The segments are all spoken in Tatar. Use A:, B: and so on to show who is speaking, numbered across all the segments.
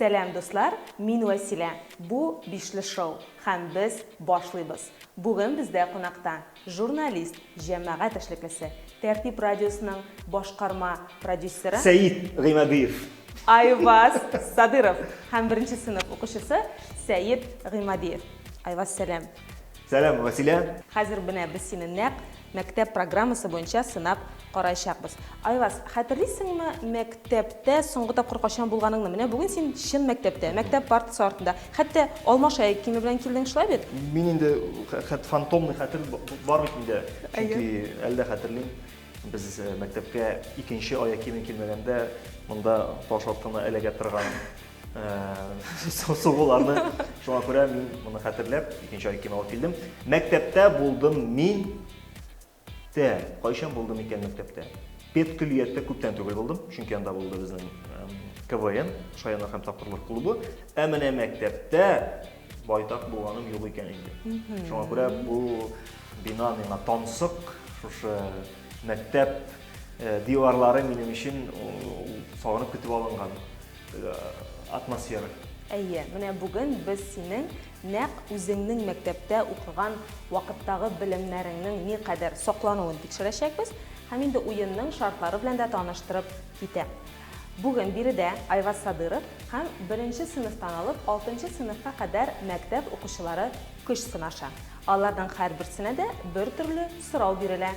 A: Сәлам дуслар, мин Вәсилә. Бу Бишле шоу һәм без башлыйбыз. Бүген бездә кунакта Журналист, җәмәгать эшлеклесе, Тәртип радиосының башкарма продюсеры. Сәет Гыймадиев.
B: Айваз
A: Садыров һәм беренче сыйныф укучысы Сәет Гыймадиев. Айваз, сәлам! Сәлам, Вәсилә!
B: Хәзер менә без сине
A: нәкъ мәктәп программасы буенча сынап Караячакбыз. Айваз, хәтерлисеңме, мәктәптә соңгы тапкыр кайчан булганыңны? Менә бүген син чын мәктәптә, мәктәп партасы артында. Хәтта алма шаек киеме белән килдең, шулай бит? Мин инде
B: хәт фантомный хәтер бар бит миндә. Чөнки әле дә хәтерлим, без мәктәпкә икенче аяк киемен килмәгәндә, монда таш артына эләгә торган сугуларны. Шуңа күрә мин моны хәтерләп, икенче аяк кием алып килдем. Мәктәптә булдым мин. Тә, кайчан булды микән мәктәптә? Педкөллияттә күптән түгел булдым, чөнки анда булды безнең КВН, Шаяннар һәм тапкырлар клубы. Ә менә мәктәптә байтак булганым юк икән инде. Шуңа күрә бу бина миңа тансык, шушы мәктәп э, диварлары минем өчен сагынып көтеп алынган э, атмосфера. Әйе,
A: менә бүген без синең Нәкъ үзеңнең мәктәптә укыган вакыттагы белемнәреңнең никадәр саклануын тикшерәчәкбез һәм инде уенның шартлары белән дә таныштырып китәм. Бүген биредә Айваз Садыров һәм беренче сыйныфтан алып алтынчы сыйныфка кадәр мәктәп укучылары көч сынаша. Аларның һәрберсенә дә бер төрле сорау бирелә.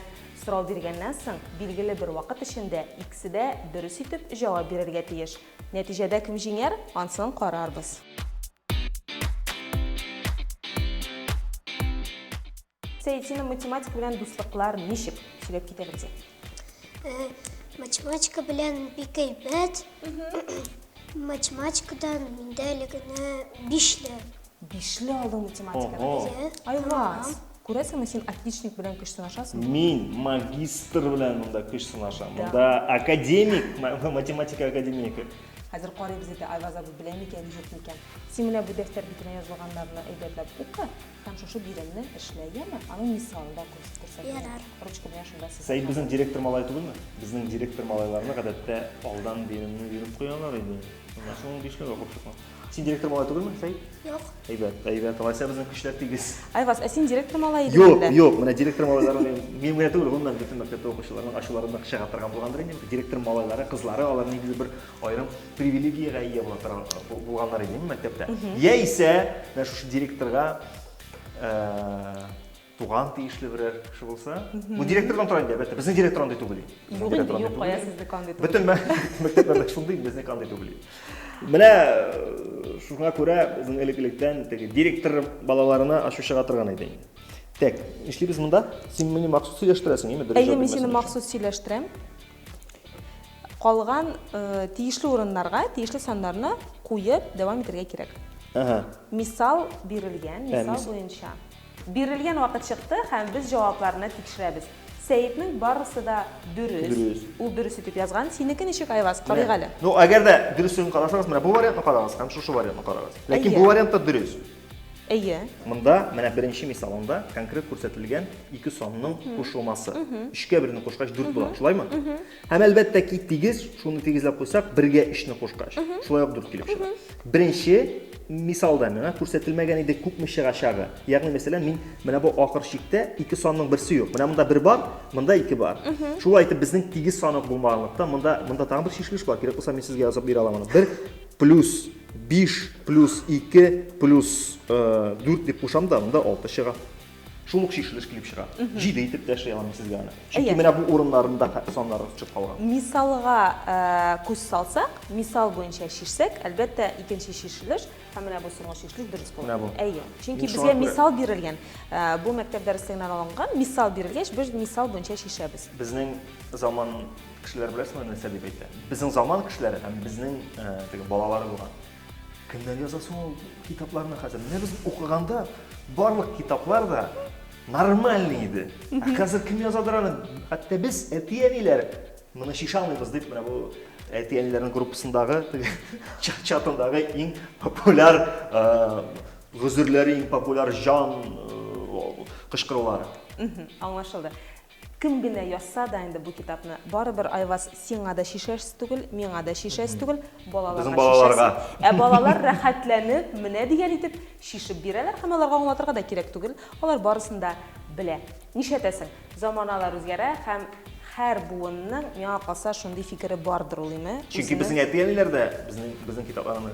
A: Сорау биргәннән соң, билгеле бер вакыт эчендә икесе дә дөрес итеп җавап бирергә тиеш. Нәтиҗәдә кем җиңәр, ансын карарбыз. Сәйетина математика белән дуслыклар ничек сөйләп китә белде? Э, математика
C: белән бик әйбәт. Математикадан миндә әле генә бишле. Бишле алу
A: математикада. Иә. Айваз, күрәсеңме син отличник белән көч сынашасың? Мин магистр
B: белән монда көч сынашам. Монда академик, математика академигы. Хәзер карыйбыз
A: иде, Айваз абый белә микән, юк микән. Син менә бу дәфтәр битенә язылганнарны әйбәтләп укы һәм шушы биремне эшлә, яме? Аның мисалын да күрсәт миңа. Ярар. Ручка белән
C: шунда сыза.
A: Сәет безнең директор малае
B: түгелме? Безнең директор малайларны, гадәттә, алдан биремне биреп куялар иде. Шуңа шуның бишләве курчыкмы? Син директор малае түгелме, Сәет? Юк. Әйбәт,
C: әйбәт. Алайса
B: безнең көчләр тигез. Айваз, ә син директор
A: малай идең Юк, юк, менә директор малайлары
B: минем генә түгел, гомумән бөтен мәктәптә укучыларның ачуларында кеше торган булгандыр инде. Директор малайлары, кызлары, алар нигезе бер аерым привилегиягә ия була торган булганнар инде мәктәптә. Яисә, менә шушы директорга э, Туган тиешле берәр кеше булса. Бу директордан тора инде, әлбәттә. Безнең директор андый түгел. Юк инде, юк, кая
A: сезнеке андый түгел. Бөтен мәктәпләрдә
B: шундый, безнеке андый түгел. Менә э, шуңа күрә безнең элек-электән теге директор балаларына ачу чыга торган иде инде. Так, эшлибез монда. Син мине махсус сөйләштерәсең, яме дөрес. Әйе, мин сине махсус
A: сөйләштерәм. Калган э, тиешле урыннарга тиешле саннарны куеп дәвам итәргә кирәк. Ага. Мисал бирелгән, мисал буенча. Бирелгән вакыт чыкты һәм без җавапларны тикшерәбез. Сәетнең барысы да дөрес. Дөрес. Ул дөрес итеп язган. Синеке ничек, Айваз? Карыйк әле. Ну, әгәр дә дөресен
B: карасагыз, менә бу вариантны карагыз һәм шушы вариантны карагыз. Ләкин бу вариант та дөрес. Әйе.
A: Монда менә
B: беренче мисалында конкрет күрсәтелгән ике санның кушылмасы. Өчкә берне кушкач, дүрт була. Шулаймы? Һәм әлбәттә ки, тигез, шуны тигезләп куйсак, бергә өчне кушкач, шулай ук дүрт килеп чыга. Беренче мисалда миңа күрсәтелмәгән иде күпме чыгачагы. Ягъни, мәсәлән, мин менә бу ахыр чиктә ике санның берсе юк. Менә монда бер бар, монда ике бар. Шулай итеп, безнең тигез сан ук булмаганлыктан, монда, монда тагын бер чишелеш бар. Кирәк булса, мин сезгә язып бирә алам аны. Бер плюс биш плюс ике плюс э, дүрт дип кушам да, монда алты чыга. Шул ук чишелеш килеп чыга. Җиде итеп тә эшли алам сезгә аны. Чөнки менә бу урыннарында саннар төшеп калган. Мисалга э,
A: күз салсак, мисал буенча чишсәк, әлбәттә, икенче чишелеш һәм менә бу соңгы чишелеш дөрес була. Менә бу. Әйе. Чөнки безгә мисал бирелгән. Э, бу мәктәп дәреслегеннән алынган мисал бирелгәч, без мисал буенча чишәбез. Безнең
B: заман кешеләр беләсеңме нәрсә дип әйтә? Безнең заман кешеләре һәм безнең э, теге балалары булган. Кемнәр яза соң ул китапларны хәзер? Менә без укыганда барлык китаплар да нормальный иде. Ә хәзер кем язадыр аны? Хәтта без әти-әниләр моны шиша алмыйбыз дип, менә бу әти-әниләрнең группасындагы чатындагы иң популяр гозерләре, иң популяр җан кычкырулары. Аңлашылды.
A: Кем генә язса да инде бу китапны, барыбер Айваз сиңа да шишәс түгел, миңа да шишәс түгел, балаларга шишәс.
B: Ә
A: балалар рәхәтләнеп, менә дигән итеп шишеп бирәләр һәм аларга аңлатырга да кирәк түгел, алар барысын да белә. Нишләтәсең, заманалар үзгәрә һәм һәр буынның, миңа калса, шундый фикере бардыр ул, име, үзенең. Чөнки безнең әти-әниләр
B: дә безнең китапларны.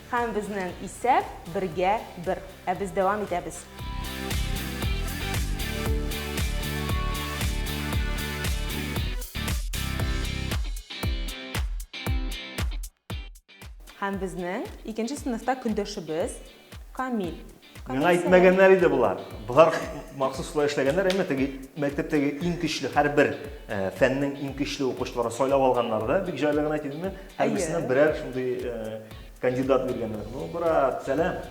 A: Һәм безнең исәп, бергә, бер. Ә без дәвам итәбез. Һәм безнең икенче сыйныфта көндәшебез Камил. Миңа
B: әйтмәгәннәр иде болар. Болар махсус шулай эшләгәннәр, әмма теге мәктәптәге иң көчле һәрбер э, фәннең иң көчле укучыларын сайлап алганнар да, бик җайлы гына әйтимме? Һәрберсенә берәр шундый э, кандидат биргәннәр. Ну, брат, сәлам.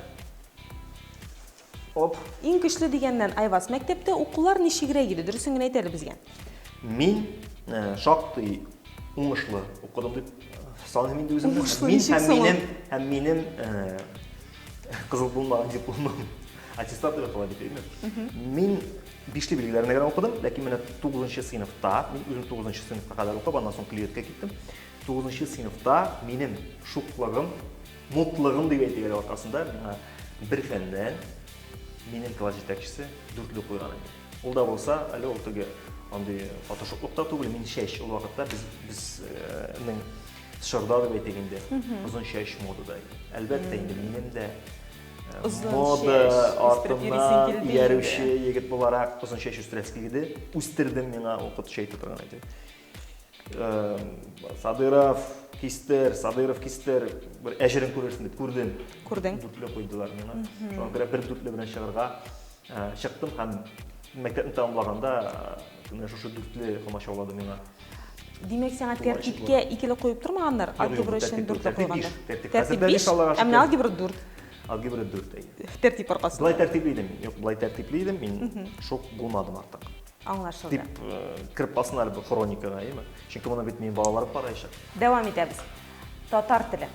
B: Оп. Иң көчле дигәннән,
A: Айваз, мәктәптә укулар ничегрәк иде? Дөресен генә әйт әле безгә. Мин
B: э, шактый уңышлы укыдым дип саныйм инде үземне. Уңышлы, һәм минем һәм
A: минем
B: Кызыл булмаган дипломым аттестат белән кала бит, әйеме? Мин бишле билгеләренә генә укыдым, ләкин менә 9 сыйныфта, мин үзем 9 сыйныфка кадәр укып, аннан соң клиеткә киттем. 9 сыйныфта минем шуклыгым, мутлыгым дип әйтик әле аркасында, миңа бер фәннән минем класс җитәкчесе дүртле куйган иде. Ул да булса, әле ул теге андый фотошоплык та түгел, мин чәч ул вакытта без безнең Чорда дип әйтик инде, озын чәч модада. Әлбәттә инде минем дә мода артыннан иярүче егет буларак озын чәч үстерәсе килде. Үстердем миңа укытучы әйтеп торган иде. Садыров кистер, Садыров кистер, бер әҗерен күрерсең дип күрдем. Күрдең. Дүртле куйдылар миңа. Шуңа күрә бер дүртле белән чыгарга Ә, чыктым һәм мәктәпне тәмамлаганда менә шушы дүртле комачауладым миңа. Димәк, сиңа
A: тәртипкә икеле куеп тормаганнар, алгебра өчен дүртле куйганнар. Тәртип
B: биш, ә менә алгебра
A: дүрт. Алгебра дүрт,
B: әйе. Тәртип аркасында. Былай
A: тәртипле идем, юк,
B: былай тәртипле идем, мин шок булмадым артык. Аңлашылды. Дип
A: кереп
B: калсын әле бу хроникага, әйеме? Чөнки моны бит минем балаларым караячак. Дәвам итәбез.
A: Татар теле.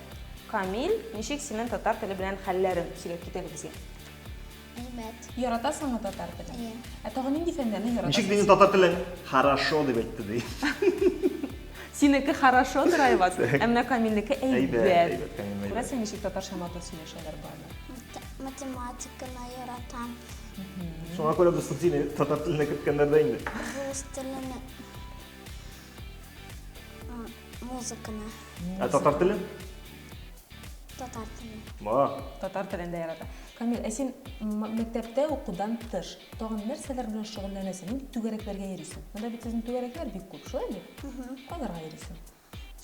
A: Камил, ничек синең татар теле белән хәлләрең? Сөйләп кит әле безгә.
C: Әлмәт. Яратасыңмы
A: татар телен? Әйе. Ә тагын нинди
C: фәннәрне
A: яратасың? Ничек дигән татар теле
B: хорошо дип әйтте ди. Синеке
A: хорошо драйвас, ә менә Камилнеке әйбәт. Күрәсең
B: ничек татарча матур
A: сөйләшәләр барлар. Математиканы яратам.
C: Шуңа
B: күрә без субсидия татар теленә керткәннәр дә инде. Рус теленә.
C: Музыканы. Ә татар
B: теле?
C: Татар теле. Ма. Татар
B: телен дә ярата.
A: Камил, ә син мәктәптә укудан тыш, тагын нәрсәләр белән шөгыльләнәсең? Нинди түгәрәкләргә йөрисең? Монда бит сезнең түгәрәкләр бик күп, шулай бит? Кайларга йөрисең?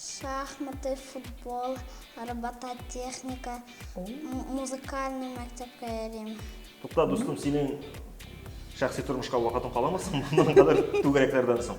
A: Шахматы,
C: футбол, робототехника, музыкальный мәктәпкә йөрим. Тукта, дустым,
B: синең шәхси тормышка вакытың каламы соң моннан кадәр түгәрәкләрдән соң?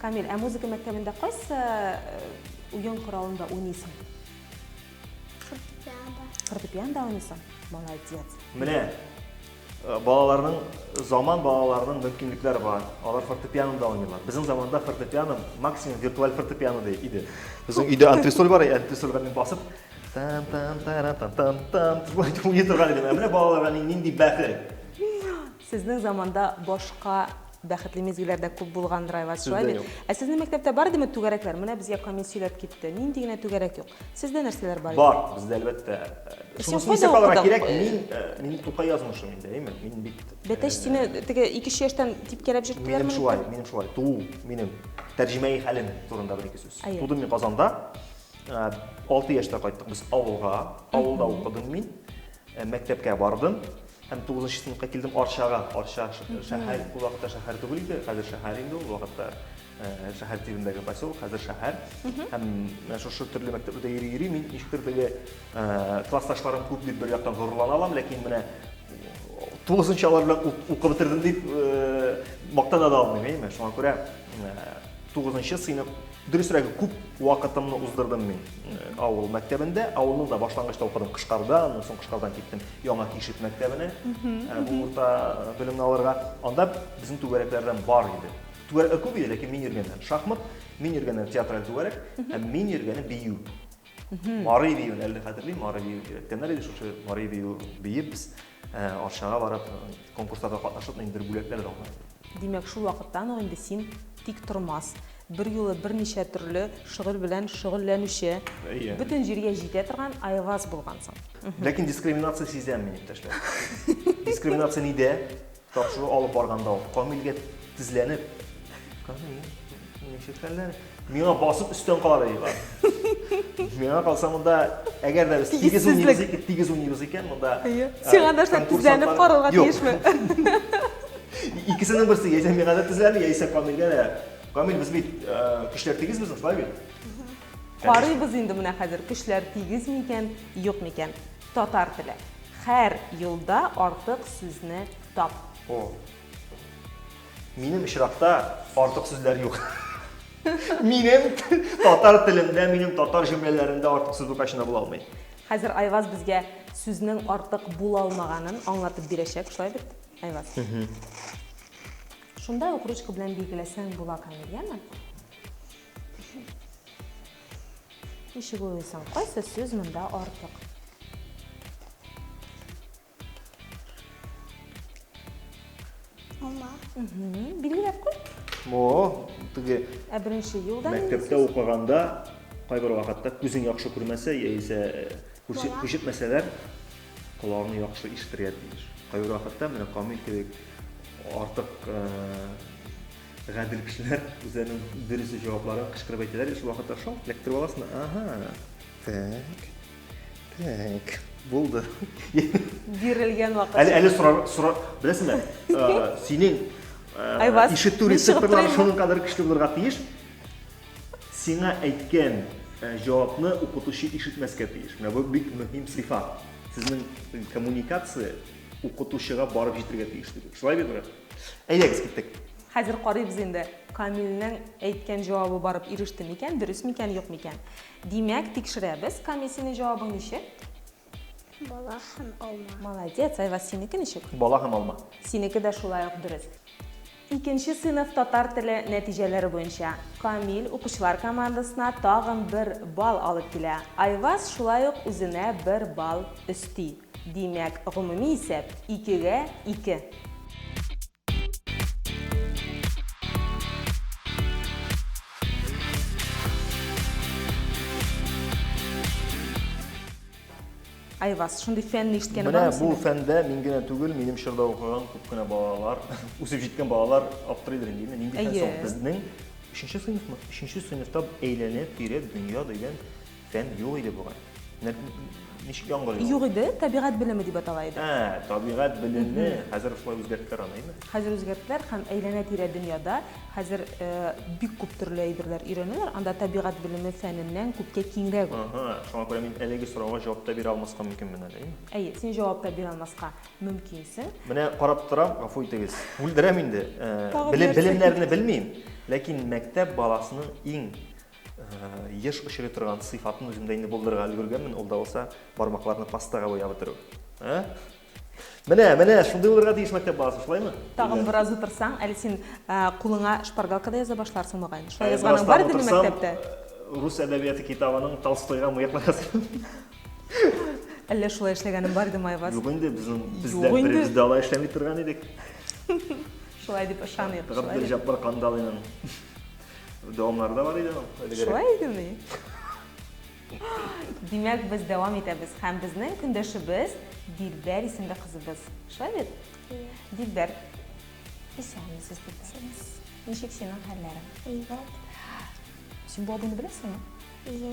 B: Камил, ә
A: музыка мәктәбендә кайсы уен коралында уйныйсың? Фортепианда.
C: Фортепианда уйныйсың?
A: Молодец. Менә э,
B: балаларның заман балаларының мөмкинлекләре бар. Алар фортепианода уйныйлар. Безнең заманда фортепиано максимум виртуаль фортепиано иде. Безнең өйдә антресоль бар, антресольгә мин басып там там тара там там там уйный торган идем. Ә менә балаларга нинди бәхет. Сезнең
A: заманда башка бәхетле мизгелләр дә күп булгандыр, Айваз, Сездә шулай бит? юк. Ә сезнең
B: мәктәптә бар
A: идеме түгәрәкләр? Менә безгә Камил сөйләп китте. Нинди генә түгәрәк юк. Сездә нәрсәләр бар иде? Бар, бездә әлбәттә.
B: Син Шунысын кайда исәп
A: алырга укыдың? кирәк, мин,
B: э,
A: мин Тукай
B: язмышы миндә, әйеме? Мин бит... э, Бәтәч, сине
A: теге икенче яшьтән типкәләп җөрттеләрме? Минем шулай, минем шулай. Туу
B: минем тәрҗемәи хәлем турында бер-ике сүз. Әйе. Тудым мин Казанда. Э, Алты яшьтә кайттык без авылга. Авылда укыдым мин. Э, Мәктәпкә бардым. Һәм тугызынчы сыныфка килдем Арчага. Арча шәһәр, ул вакытта шәһәр түгел иде, хәзер шәһәр инде ул вакытта шәһәр тибендәге поселок, хәзер шәһәр. Һәм шушы төрле мәктәпләрдә йөри йөри мин ничектер теге классташларым күп дип бер яктан горурлана алам, ләкин менә тугызынчы алар белән укып бетердем дип мактана да алмыйм, әйеме? Шуңа күрә Тугызынчы сыйныф, дөресрәге, күп вакытымны уздырдым мин авыл мәктәбендә. Авылның да башлангычта укыдым Кышкарда, аннан соң Кышкардан киттем Яңа Кишет мәктәбенә, бу урта белемне алырга. Анда безнең түгәрәкләрдән бар иде. Түгәрәкләр күп иде, ләкин мин йөргәннән шахмат, мин йөргәннән театраль түгәрәк, һәм мин йөргәннән бию. Марый биюен әле хәтерлим, Марый бию өйрәткәннәр иде, шушы Марый бию биеп без э, Арчага барып э, конкурсларда катнашып, инде бер бүләкләр дә алдык. Димәк, шул вакыттан
A: ук инде син тик тормас, бер юлы берничә төрле шөгыль белән шөгыльләнүче, Әйе. бөтен җиргә җитә торган Айваз булгансың. Ләкин дискриминация
B: сизәм мин, иптәшләр. Дискриминация нидә? Тапшыру алып барганда ул Камилгә тезләнеп, Камил, ничек хәлләр? Миңа басып өстән карады диләр. Миңа калса монда, әгәр дә без тигез уйныйбыз икән, тигез уйныйбыз икән, монда э, Сиңа да шулай
A: тезләнеп карарга тиешме? Икесенең
B: берсе, яисә миңа да тезләнеп, яисә Камилгә дә. Камил, без бит э, көчләр тигез безнең, шулай бит? Карыйбыз
A: инде менә хәзер, көчләр тигез микән, юк микән. Татар теле. Хәр юлда артык сүзне тап. О.
B: Минем очракта артык сүзләр юк. Минем татар телемдә, минем татар җөмләләремдә артык сүз бу качына була алмый. Хәзер Айваз
A: безгә сүзнең артык була алмаганын аңлатып бирәчәк, шулай бит, Айваз? Шунда ук ручка белән билгеләсәң була, Камил, яме? Ничек уйлыйсың, кайсы сүз монда артык?
C: Алма. Билгеләп куй.
A: Мо,
B: теге Ә беренче
A: юлда мәктәптә укыганда
B: кайбер вакытта күзең яхшы күрмәсә яисә э, күрсәт күрсәтмәсәләр колагың яхшы ишетергә тиеш кайбер вакытта менә камил кебек артык э, Гадел кешеләр үзләренең дөрес җавапларын кычкырып әйтәләр, шул вакытта шалт эләктереп аласың. Ага. Так. Так. Булды.
A: Бирелгән вакыт. Әле әле сорар сорар
B: беләсеңме? Синең Айваз, ишетү рецепторлары шуның кадәр көчле булырга тиеш. Сиңа әйткән җавапны укытучы ишетмәскә тиеш. Менә бу бик мөһим сыйфат. Сезнең коммуникация укытучыга барып җитергә тиеш. Шулай бит? Әйдәгез, киттек. Хәзер карыйбыз
A: инде, Камилнең әйткән җавабы барып иреште микән, дөрес микән, юк микән. Димәк, тикшерәбез. Камил, синең җавабың ничек?
C: Бала һәм алма. Молодец, Айваз, синеке
A: ничек? Бала һәм алма.
B: Синеке дә шулай ук
A: дөрес. Икенче сыйныф татар теле нәтиҗәләре буенча Камил укучылар командасына тагын бер балл алып килә. Айваз шулай ук үзенә бер балл өсти. Димәк, гомуми исәп, икегә, ике. Айваз, шундый фәнне ишеткәне бармы синең? Менә бу фәндә
B: мин генә
A: түгел,
B: минем чорда укыган күп кенә балалар, үсеп җиткән балалар аптырыйдыр инде, инде нинди фән соң безнең өченче сыйныфмы? Өченче сыйныфта әйләнеп, тирәп, дөнья дигән Фән юк иде бугай. Ничек яңгыр ява? Юк иде, табигать
A: белеме дип атала иде. Ә, табигать белеме,
B: хәзер шулай үзгәрттеләр аны, әйме? Хәзер үзгәрттеләр һәм
A: әйләнә-тирә дөньяда хәзер э, бик күп төрле әйберләр өйрәнәләр. Анда табигать белеме фәненнән күпкә киңрәк ул. Ага, шуңа күрә мин әлеге
B: сорауга җавап та бирә алмаска мөмкинмен әле, әйме? Әйе, син җавап та
A: бирә алмаска мөмкинсең. Менә карап торам,
B: гафу итегез. Бүлдерәм инде. Э, белемнәрне белмим, ләкин мәктәп баласының иң Еш очрый торган сыйфатны үземдә инде булдырырга өлгергәнмен, ул да булса бармакларны пастага буяп бетерү. Ә? Менә, менә, шундый булырга тиеш мәктәп баласы, шулаймы? Тагын бераз утырсаң,
A: әле син кулыңа шпаргалка да яза башларсың мөгаен. Шулай язганың бар идеме мәктәптә? Рус әдәбияты
B: китабының Толстойга мыеклы язган.
A: Әллә шулай эшләгәнем бар идеме, Айваз? Юк инде, безнең бездә
B: беребез дә алай эшләми торган идек.
A: Шулай дип ышаныйк. Габделҗаппар
B: Кандалинын дәвамнары да бар иде. Шулай идеме?
A: Димәк, без дәвам итәбез һәм безнең көндәшебез Дилбәр исемле кызыбыз. Шулай бит? Дилбәр. Исәнмесез, Дилбәр. Ничек синең хәлләрең? Әйбәт. Син бу абыйны беләсеңме? Әйе.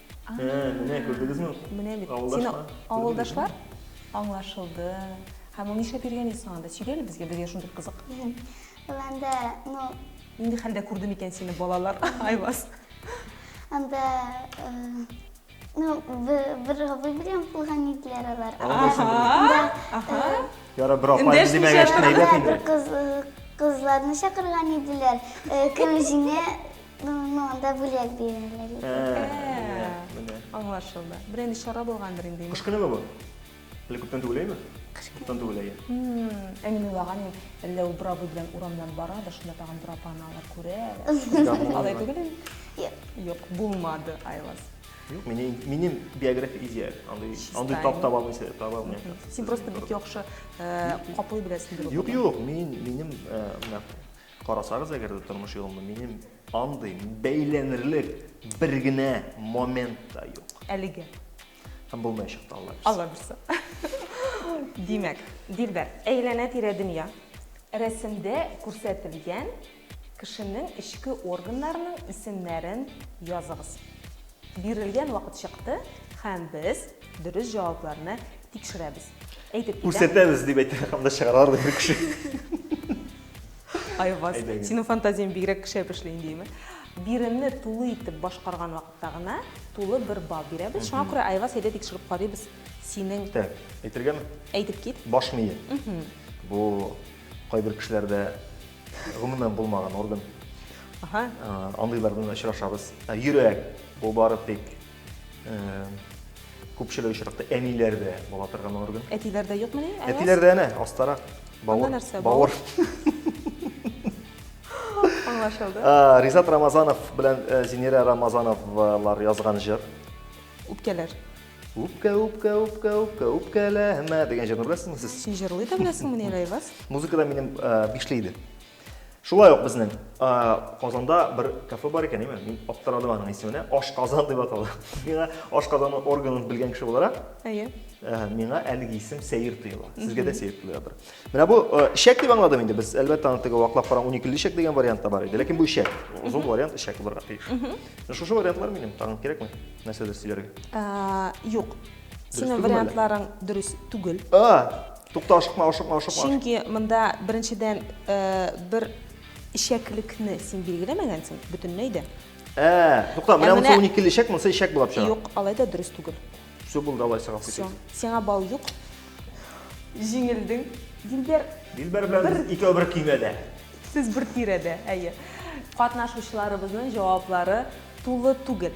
C: Ә, менә
B: күрдегезме? Менә бит. Сине
A: авылдашлар аңлашылды. Һәм ул нишләп йөргән иде соң анда? Сөйлә әле безгә, безгә шундый кызык. Ул
C: анда, ну... Нинди
A: хәлдә күрде микән сине балалар? Айваз. Анда,
C: ну, бер абый белән булган иделәр алар. Ага.
B: Яра, бер апа димәгәч, әйбәт инде. Кызларны
C: чакырган иделәр. Кем җиңә Монда бүләк бирәләр. Ә, менә.
A: Аңлашылды. Бер инде чара булгандыр инде. Кыш көнеме бу?
B: Әле күптән түгел әйме? Кыш күптән түгел әйе. Ә мин
A: уйлаган идем, әллә ул бер абый белән урамнан бара да шунда тагын бер апаны алар күрә. Алай түгел инде? Юк. Юк, булмады, Айлас. Юк, минем
B: минем биография изя. Андый андый тап таба алмыйсыз, таба алмыйсыз. Син просто бик яхшы
A: каплый беләсең. Юк, юк, мин минем
B: менә Карасагыз, әгәр дә тормыш юлымда минем андый бәйләнерлек бер генә момент та юк. Әлегә.
A: Һәм
B: булмаячак та, Алла бирса. Алла бирса.
A: Димәк, Дилбәр, әйләнә-тирә дөнья рәсемдә күрсәтелгән кешенең эчке органнарының исемнәрен языгыз. Бирелгән вакыт чыкты һәм без дөрес җавапларны тикшерәбез. Әйтеп китәм. Күрсәтәбез дип әйтә
B: һәм дә чыгаралар бу кеше.
A: Айваз, синең фантазияң бигрәк шәп эшли инде, яме. Биремне тулы итеп башкарган вакытта гына тулы бер балл бирәбез. Шуңа күрә, Айваз, әйдә тикшереп карыйбыз синең... Так,
B: әйтергәме? Әйтеп кит. Баш
A: мие.
B: Бу кайбер кешеләрдә гомумән булмаган орган. Андыйлар белән очрашабыз. Йөрәк, бу бары тик Күпчелек очракта әниләрдә була торган орган. Әтиләрдә юкмыни?
A: Әтиләрдә әнә, астарак.
B: Бавыр. Нәрсә? Бавыр.
A: Аңлашылды. Ризат
B: Рамазанов белән э, Зинира Рамазановлар язган җыр. Үпкәләр.
A: Үпкә, үпкә, үпкә,
B: үпкә, үпкәләмә дигән җырны беләсезме сез? Син җырлый да беләсеңмени,
A: Рәйваз? Музыкада минем
B: э, бишле иде. Шулай ук безнең Казанда бер кафе бар икән, әйме? Мин аптырадым аның исеменә. Аш Казан дип атала. Миңа Аш Казанның органын белгән кеше буларак, әйе.
A: Миңа әлеге
B: исем сәер тоела. Сезгә дә сәер тоелдыр. Менә бу ишәк дип аңладым инде без. Әлбәттә, аны теге ваклап караң 12 ишәк дигән вариант та бар иде. Ләкин бу ишәк. Озын вариант ишәк булырга тиеш. Шушы вариантлар минем тагын кирәкме? Нәрсәдер сөйләргә. Юк.
A: Синең вариантларың дөрес түгел. Тукта,
B: ашыкма, ашыкма, ашыкма. Чөнки монда
A: беренчедән бер ишәклекне син билгеләмәгәнсең бөтенләй дә. Ә, тукта,
B: менә монысы 12 ле ишәк, монысы ишәк булып чыга. Юк, алай да дөрес түгел.
A: Все булды, давай
B: сиңа китик. Сиңа бал юк.
A: Җиңелдең. Дилбәр. Дилбәр белән без
B: икәү бер көймәдә. Сез бер
A: тирәдә, әйе. Катнашучыларыбызның җаваплары тулы түгел.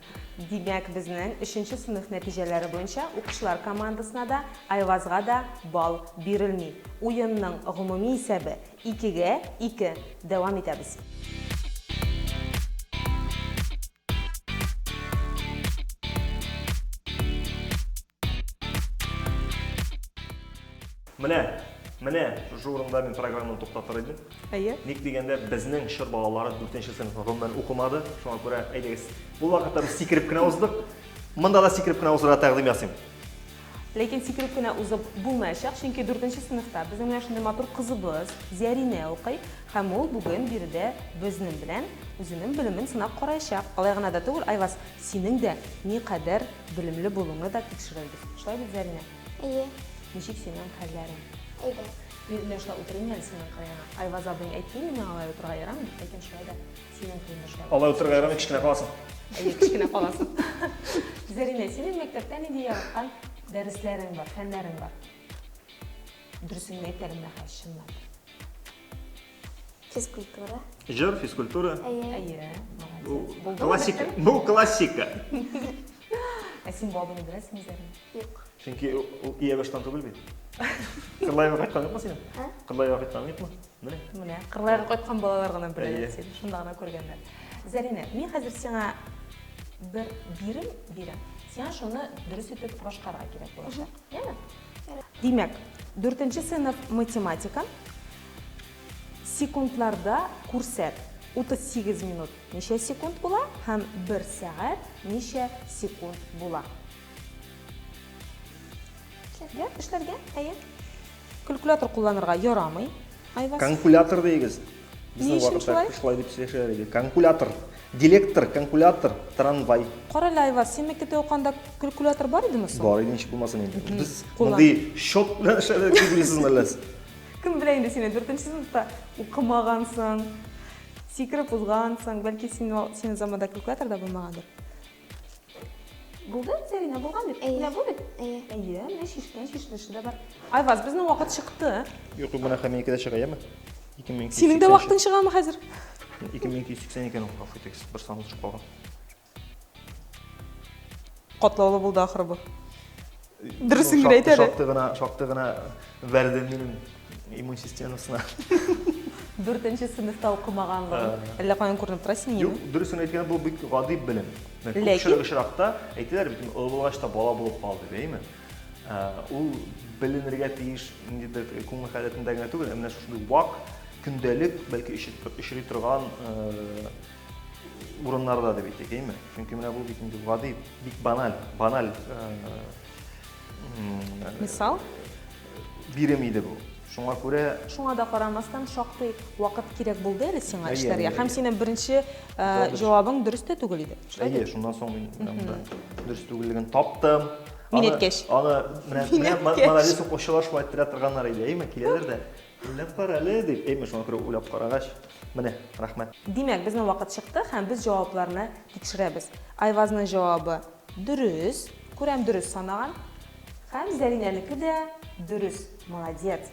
B: Димәк,
A: безнең өченче сыйныф нәтиҗәләре буенча укучылар командасына да, Айвазга да балл бирелми. Уенның гомуми исәбе, икегә ике. Дәвам итәбез. Менә, менә шушы урында мин программаны туктатыр идем. Әйе. Ник дигәндә, безнең
B: чор балалары 4 сыйныфны гомумән укымады. Шуңа күрә, әйдәгез, бу вакытта без сикереп кенә уздык. Монда да сикереп кенә узырга тәкъдим ясыйм. Ләкин
A: сикереп кенә узып булмаячак, чөнки 4 сыйныфта безнең менә шундый матур кызыбыз Зәринә укый, һәм ул бүген биредә безнең белән үзенең белемен сынап караячак. Алай гына да түгел, Айваз, синең дә никадәр Белемле булуыңны да тикшерербез. Шулай бит, Зәринә? Әйе.
C: Ничек синең
A: хәлләрең? Әйдә.
C: Мин менә шулай
A: утырыйм әле синең кырыеңа. Айваз абыең әйтте миңа алай утырырга ярамый, ләкин шулай да синең кырыеңда шулай. Алай утырырга ярамый, кечкенә
B: каласың. Әйе, кечкенә
A: каласың. Зәринә, синең мәктәптә нинди яраткан дәресләрең бар, фәннәрең бар? Дөресен генә әйт әле, менә хәзер чынлап. Физкультура.
C: Җыр,
B: физкультура. Әйе. Бу классика. Бу классика.
A: Ә син бабыны беләсең үзләрен? Юк. Чөнки
C: ул
B: иябаштан түгел бит. Кырлайга кайткан юкмы син? Кырлайга кайткан юкмы? Менә. Менә. Кырлайга
A: кайткан балалар гына беләләр син. Шунда гына күргәннәр. Зәринә, мин хәзер сиңа бер бирем бирәм. Сиңа шуны дөрес итеп башкарырга кирәк булачак. Яме? Димәк, дүртенче сыйныф математика, Секундларда күрсәт. 38 минут ничә секунд була һәм 1 сәгать ничә секунд була? Эшләргә? Эшләргә? Әйе. Калькулятор кулланырга ярамый. Айваз. Калькулятор дигез.
B: Безнең вакытта
A: шулай дип сөйләшәләр иде.
B: Калькулятор. Дилектор, калькулятор, трамвай. Кара әле, Айваз, син
A: мәктәптә уканда калькулятор бар идеме соң? Бар иде, ничек булмасын инде.
B: Без мондый счет
A: белән
B: эшләдек, дип беләсезме әллә? Кем белә инде
A: сине дүртенче сыныфта укымагансың, сикереп узгансың, бәлки син син заманда калькулятор да булмагандыр. Булды, Зарина, булган бит. Әйе. Бу бит. Әйе.
C: Әйе,
A: менә шишкә, шишлеше дә бар. Айваз, безнең вакыт чыкты. Юк, юк, менә хәминеке
B: дә чыга, яме? Синең дә
A: вакытың чыгамы хәзер? 2280
B: икән ул, афитекс, бер санлы чык калган.
A: Катлаулы булды ахры бу. Дөресен генә әйт әле. Шактый гына, шактый гына
B: бәрдем минем иммун системасына.
A: Дүртенче сыйныфта укымаганлыгын. Әллә каян күренеп тора синең? Юк, дөресен әйткәндә бу бик
B: гади белем. Күпчелек очракта
A: әйтәләр
B: бит, олы булгач та бала булып кал дип, әйме? Ул беленергә тиеш ниндидер күңел халәтендә генә түгел, ә менә шушындый вак, көндәлек, бәлки очрый торган урыннарда дип әйтик, әйме? Чөнки менә бу бит инде гади, бик баналь, баналь
A: мисал
B: бирем иде бу. Шуңа күрә Шуңа да карамастан
A: шактый вакыт кирәк булды әле сиңа эшләргә. Һәм синең
B: беренче
A: җавабың дөрес тә түгел иде. Әйе, шуннан соң мин
B: дөрес түгеллеген таптым. Мин әйткәч.
A: Аны менә
B: менә
A: молодец ук
B: очрашмай тора торганнар иде, әйме? Киләләр дә. Уйлап кара әле, дип, әйме шуңа күрә уйлап карагач, менә, рәхмәт. Димәк, безнең вакыт
A: чыкты һәм без җавапларны тикшерәбез. Айвазның җавабы дөрес, күрәм дөрес санаган. Һәм Зәринәнеке дә дөрес, молодец.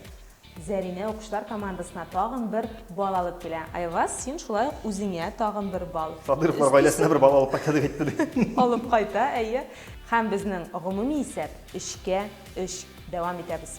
A: Зәринә укучылар командасына тагын бер балл алып килә. Айваз, син шулай ук үзеңә тагын бер балл. Садыйровлар гаиләсенә бер балл
B: алып кайта дип әйтте, ди. Алып кайта, әйе.
A: Һәм безнең гомуми исәп, өчкә өч. Дәвам итәбез.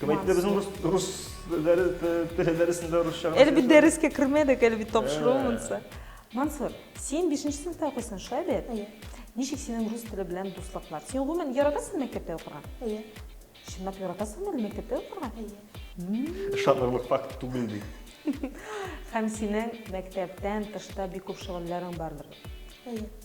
A: Күбәйтелә
B: безнең рус рус дәресендә русча. Әле бит дәрескә кермәдек,
A: әле бит тапшыру монсы. Мансур, син 5 сыйныфта укыйсың, шулай бит? Әйе. Ничек
C: синең рус
A: теле белән дуслыклар? Син гомумән яратасыңмы мәктәптә укырга? Әйе.
C: Чынлап
A: яратасыңмы әле мәктәптә укырга? Әйе.
C: Ышанырлык факт
B: түгел ди. Һәм
A: синең мәктәптән тышта бик күп шөгыльләрең бардыр? Әйе.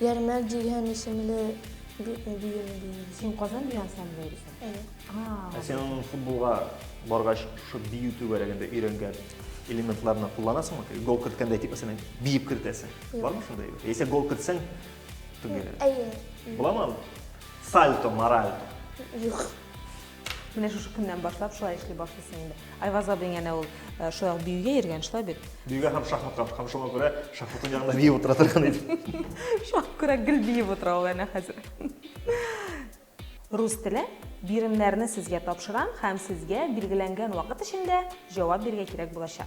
C: Ярмәк дигән исемле биюне бию. Син Казан дигән
A: ансамбльдә йөрисең?
C: Әйе. Ә син аның футболга
B: баргач, шушы бию түгәрәгендә өйрәнгән элементларны кулланасыңмы? Гол керткәндә әйтик, мәсәлән, биеп кертәсең. Бармы шундый әйбер? Яисә гол кертсәң, түгәрәк. Әйе.
C: Буламы?
B: Сальто, маральто. Юк.
A: Менә шушы көннән башлап шулай эшли башлыйсың инде. Айваз абыйң әнә ул э, шулай биюгә йөргән, шулай бит? Биюгә һәм шахматка,
B: һәм шуңа күрә шахматның янында биеп утыра торган иде. Шуңа күрә
A: гел биеп утыра ул әнә хәзер. Рус теле биремнәрне сезгә тапшырам һәм сезгә билгеләнгән вакыт эчендә җавап бирергә кирәк булачак.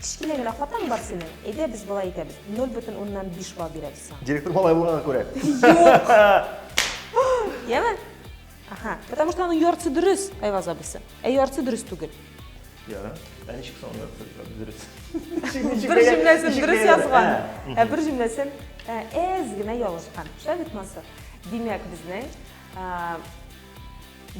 A: Кечкенә генә хатаң бар синең. Әйдә без болай итәбез, ноль бөтен уннан биш балл бирәбез сиңа. Директор малай булганга күрә.
B: Юк!
A: Яме? Аха. Потому что аның яртысы дөрес, Айваз абысы. Ә яртысы дөрес түгел. Я.
B: Ә ничек соң яртысы дөрес?
A: Бер җөмләсен дөрес язган, ә бер җөмләсен әз генә ялгышкан. Шулай бит, Мансур? Димәк, безнең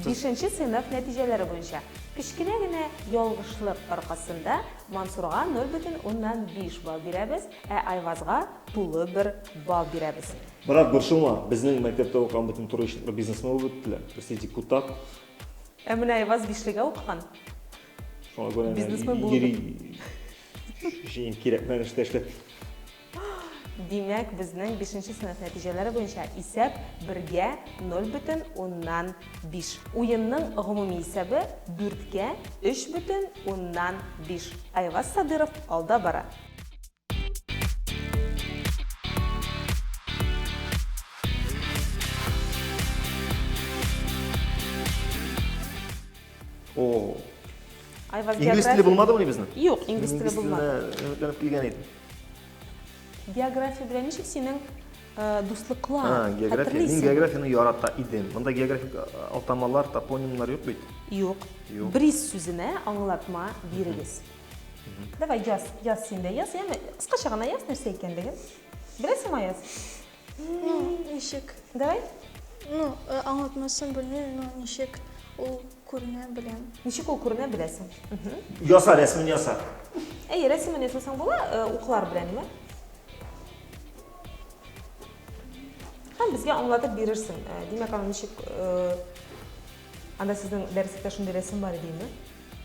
A: Бишенче сыйныф нәтиҗәләре буенча, кечкенә генә ялгышлык аркасында Мансурга 0 бөтен уннан биш балл бирәбез, ә Айвазга тулы бер балл бирәбез. Брат, борчылма,
B: безнең мәктәптә укыган бөтен туры ишекле бизнесмен булып беттеләр. Берсе депутат. Ә менә
A: Айваз бишлегә укыган. Шуңа
B: күрә генә йөри. Шуңа күрә генә
A: йөри.
B: Өчен кирәкмәгән эштә эшләп.
A: Димәк, безнең бишенче сыйныф нәтиҗәләре буенча исәп бергә 0 бөтен уннан биш. Уенның гомуми исәбе дүрткә өч бөтен уннан биш. Айваз Садыров алда бара. Айваз география. Инглиз теле булмадымыни
B: безнең? Юк, инглиз теле булмады.
A: Инглиз теленә өметләнеп килгән идем. География белән ничек синең э, дуслыклар? А, география. Мин Хәтерлисеңме?
B: географияны ярата идем. Монда географик а, атамалар, топонимнар юк бит. Юк. Юк.
A: Бриз сүзенә аңлатма бирегез. Давай яз, яз син дә яз, яме. Кыскача гына яз нәрсә икәнлеген. Беләсеңме Аяз? Ну,
C: ничек? Давай.
A: Ну, э,
C: аңлатмасын белмим, но ничек ул Күренә беләм. Ничек ул күренә беләсең?
A: Яса,
B: рәсемен яса. Әйе, рәсемен
A: ясасаң була, э, уклар белән ме? Һәм безгә аңлатып бирерсең. Э, димәк, аны ничек э, анда сезнең дәреслектә шундый рәсем бар идеме?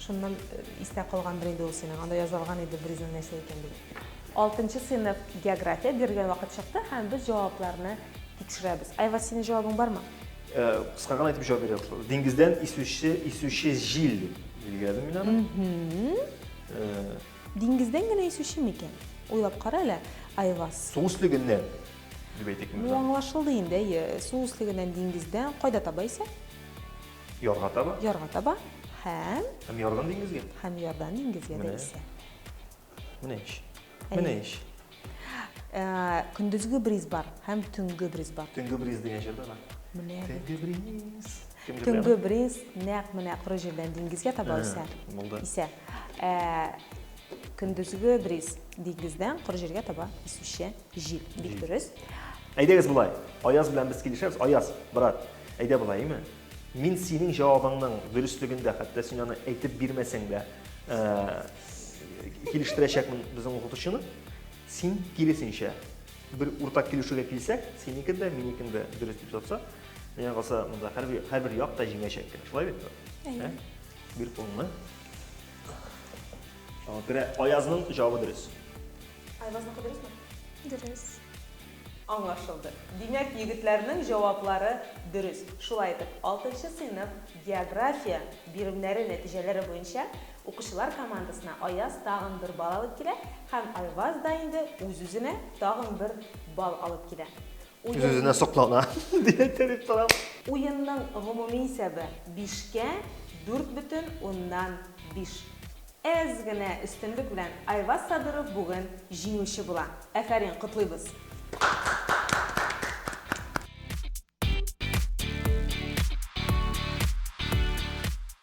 A: Шуннан истә калган бер инде ул синең. Анда язылган иде берүзең нәрсә икәнлеге. Алтынчы сыйныф география бирелгән вакыт чыкты һәм без җавапларны тикшерәбез. Айваз, синең җавабың бармы? Кыска гына
B: итеп җавап бирәм. Диңгездән исүче, исүче җил дип билгеләдем мин аны.
A: Диңгездән генә исүче микән? Уйлап кара әле, Айваз. Су өслегеннән
B: дип әйтик мин. Ну, аңлашылды инде,
A: әйе. Су өслегеннән диңгездән
B: кайда
A: таба исә? Ярга таба. Ярга таба. Һәм?
B: Һәм ярдан диңгезгә. Һәм ярдан диңгезгә
A: дә исә. Менә
B: ич. Менә ич. Э, көндезге
A: бриз бар һәм төнге бриз бар. Төнге бриз дигән җыр
B: бар. Менә. Төнге
A: бриз.
B: Төнге бриз
A: нәкъ менә коры җирдән диңгезгә таба үсә. Булды. Исә.
B: Э,
A: көндезге бриз диңгездән коры җиргә таба исүче җил. Бик дөрес. Әйдәгез болай.
B: Аяз белән без килешәбез. Аяз, брат, әйдә болай, әйме? Мин синең җавабыңның дөреслегендә, хәтта син аны әйтеп бирмәсәң дә, э, килештерәчәкмен безнең укытучыны. Син киресенчә бер уртак килешүгә килсәк, синеке дә, минекен дә дөрес дип тотса, миңа калса, монда һәрбер һәрбер як та җиңәчәк кенә. Шулай бит? Әйе.
A: Бир кулыңны.
B: Шуңа күрә Аязның җавабы дөрес. Айвазныкы
A: дөресме?
C: Дөрес.
A: Аңлашылды. Димәк, егетләрнең җаваплары дөрес. Шулай итеп, алтынчы сыйныф география биремнәре нәтиҗәләре буенча укучылар командасына Аяз тагын бер балл алып килә һәм Айваз да инде үз-үзенә тагын бер балл алып килә. Үз-үзенә
B: соклана, дип теләп торам. Уенның
A: гомуми исәбе, бишкә дүрт бөтен уннан биш. Әз генә өстенлек белән Айваз Сабиров бүген җиңүче була. Әфәрин, котлыйбыз!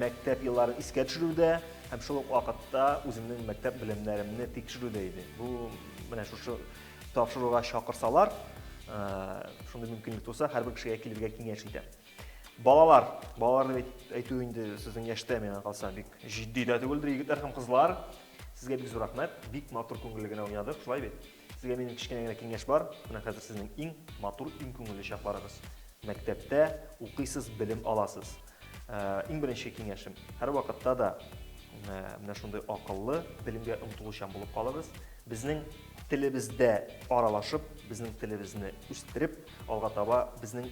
B: мәктәп елларын искә төшерүдә һәм шул ук вакытта үземнең мәктәп белемнәремне тикшерүдә иде. Бу менә шушы тапшыруга чакырсалар, шундый мөмкинлек туса, һәрбер кешегә килергә киңәш итәм. Балалар, балалар дип әйтү инде сезнең яшьтә миңа калса бик җитди дә түгелдер, егетләр һәм кызлар. Сезгә бик зур рәхмәт. Бик матур күңелле генә уйнадык, шулай бит? Сезгә минем кечкенә генә киңәш бар. Менә хәзер сезнең иң матур, иң күңелле чакларыгыз. Мәктәптә укыйсыз, белем аласыз. Э, иң беренче киңәшем, һәрвакытта да э, менә шундый акыллы, белемгә омтылучан булып калыгыз. Безнең телебездә аралашып, безнең телебезне үстереп, алга таба безнең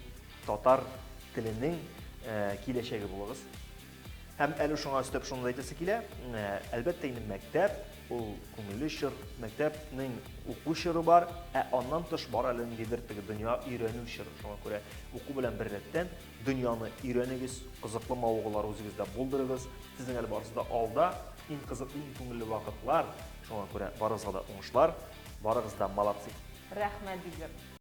B: татар теленең э, киләчәге булыгыз. Һәм әле шуңа өстәп шуны да әйтәсе килә, әлбәттә инде мәктәп, ул күңелле чор, мәктәпнең уку чоры бар, ә аннан тыш бар әле ниндидер теге дөнья өйрәнү чоры. Шуңа күрә уку белән бер рәттән дөньяны өйрәнегез, кызыклы мавыгулар үзегездә булдырыгыз. Сезнең әле барысы да алда, иң кызыклы, иң күңелле вакытлар. Шуңа күрә барыгызга да уңышлар, барыгыз
A: да
B: молодцы. Рәхмәт, Дилбер.